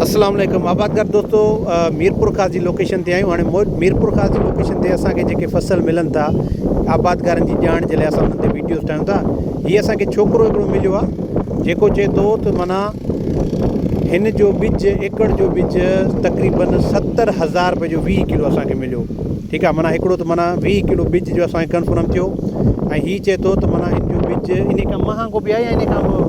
اسلام عليڪم آبادگار دوستو ميرپور خاص جي لوڪيشن تي آيون هاڻي ميرپور خاص جي لوڪيشن تي اسان کي جيڪي فصل ملن ٿا آبادگارن جي ڄاڻ جي لاء اسان انهن تي ويڊيوز ٺاهيون ٿا هي اسان کي ڇوڪرو هڪڙو مليو آهي جيڪو چئي ٿو ته معنيٰ هن جو ٻج ايڪڙ جو ٻج تقريبن ستر هزار روپئي جو ويهه ڪلو اسان کي مليو ٺيڪ آ معنيٰ هڪڙو ته معنيٰ ويهه ڪلو ٻج جو اسان کي ڪنفرم ٿيو ۽ هي چئي ٿو ته معنيٰ هن جو ٻج ان کان مهانگو به آهي ان کان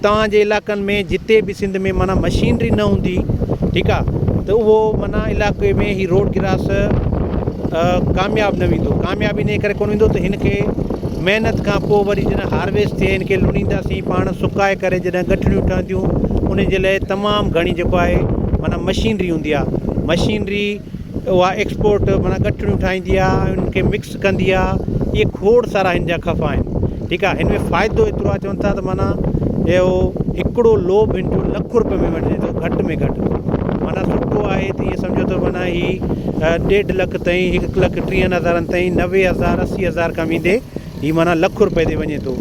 توهان جي علائقن ۾ جتي به سنڌ ۾ معنيٰ مشينري نه هوندي ٺيڪ آ ته اهو معنيٰ علائقي ۾ هي روڊ گراس ڪامياب نه ويندو ڪامياب ان ڪري ڪون ويندو ته هن کي محنت کان پوء وري جڏهن هارويسٽ ٿئي هن کي لونينداسين پاڻ سڪائي ڪري جڏهن ڳٺڙيون ٺهنديون ان جي لاء تمام گهڻي جيڪو آهي معنيٰ مشينري هوندي آ مشينري اها ايڪسپورٽ معنيٰ ڳٺڙيون ٺاهيندي آ ان کي مڪس ڪندي آ اهي کوڙ سارا هن جا خفا آهن ٺيڪ آ هن ۾ فائدو ايترو آ چون ٿا ته معنيٰ اهو هڪڙو لوب هن جو لک روپين ۾ وڃي ٿو گهٽ ۾ گهٽ معنيٰ سٺو آهي ته اهي سمجهو ته معنيٰ هي ڏيڍ لک تائين هڪ لک ٽيهن هزارن تائين نوي هزار اسي هزار کان ويندي هي معنيٰ لک روپين تي وڃي ٿو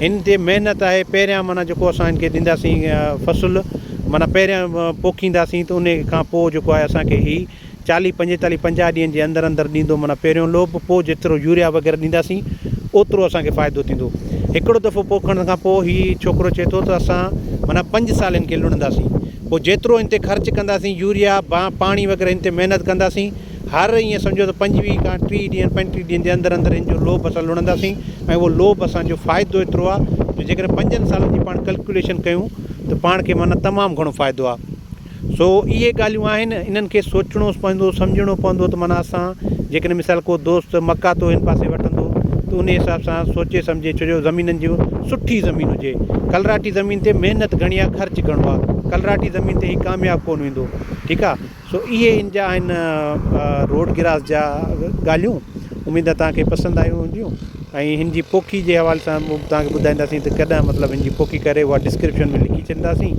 هن تي محنت آهي پهريان معنيٰ جيڪو اسان هن کي ڏينداسين فصل معنيٰ پهريان پوکينداسين ته ان کان پوء جيڪو آهي اسان کي هي چاليهه پنجيتاليهه پنجاهه ڏينهن جي اندر اندر ڏيندو معنيٰ پهريون لوپ پوء جيترو يوريا وغيره ڏينداسين اوترو اسان کي فائدو ٿيندو هڪڙو دفعو پوکڻ کان پوء هي ڇوڪرو چئي ٿو ته اسان معنيٰ پنج سال هن کي لڻنداسين پوء جيترو هن تي خرچ ڪنداسين يوريا پاڻي وغيره هن تي محنت ڪنداسين هر ايئن سمجهو ته پنجويهه کان ٽيهه ڏينهن پنجٽيهه ڏينهن جي اندر اندر هن جو لوپ اسان لڻنداسين ۽ اهو لوپ اسان جو فائدو ايترو آهي جو جيڪڏهن پنجن سالن جي پاڻ ڪلڪيوليشن ڪيون ته پاڻ کي معنيٰ تمام گهڻو فائدو آهي سو اهي ڳالهيون آهن، انهن کي سوچڻو پوندو، سمجهڻو پوندو ته معنيٰ اسان جيڪڏهن مثال ڪو دوست مڪاتو هن پاسي وٺندو ته انهي حساب سان سوچي سمجهي ڇو جو زمينن جي سٺي زمين هجي، ڪلراٽي زمين تي محنت گهڻي آهي خرچ گهڻو آهي، ڪلراٽي زمين تي هي ڪامياب ڪونه ويندو ٺيڪ آهي سو اهي ان جا آهن روڊ گراس جا ڳالهيون. اميد توهان کي پسند آيون هونديون ۽ هن جي پوکي جي حوالي سان به توهان کي ٻڌائينداسين ته ڪڏهن مطلب هن جي پوکي ڪري اها ڊسڪرپشن ۾ لکي ڇڏينداسين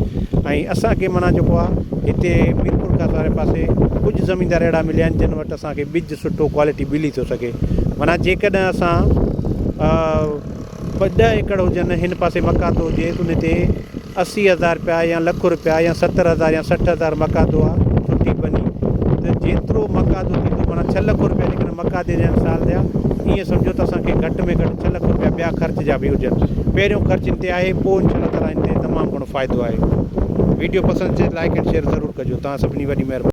۽ اسانکي معنيٰ جيڪو آهي هتي ميرپور خاص واري پاسي ڪجهه زميندار اهڙا مليا آهن جن وٽ اسانکي ٻج سٺو ڪوالٽي ملي ٿو سگهي معنيٰ جيڪڏهن اسان بس ڏهه ايڪڙ هجن، هن پاسي مڪاتو هجيس، ان تي اسي هزار رپيا يا لک رپيا يا ستر هزار يا سٺ هزار مڪاتو آ، ڦٽي ڀڃي ته جيترو مڪاتو ٿيندو، معنيٰ ڇهه لک رپيا جيڪڏهن مڪاتي جا آهن سال جا، ائين سمجهو ته اسان کي گهٽ ۾ گهٽ ڇهه لک رپيا ٻيا خرچ جا به هجن. پهريون خرچ هن تي آهي، پوء انشاء الله تعالٰي هن تي تمام گهڻو فائدو آهي. ويڊيو پسند اچي ته لائيڪ اينڊ شيئر ضرور ڪجو. توهان سڀني جي وڏي مهرباني.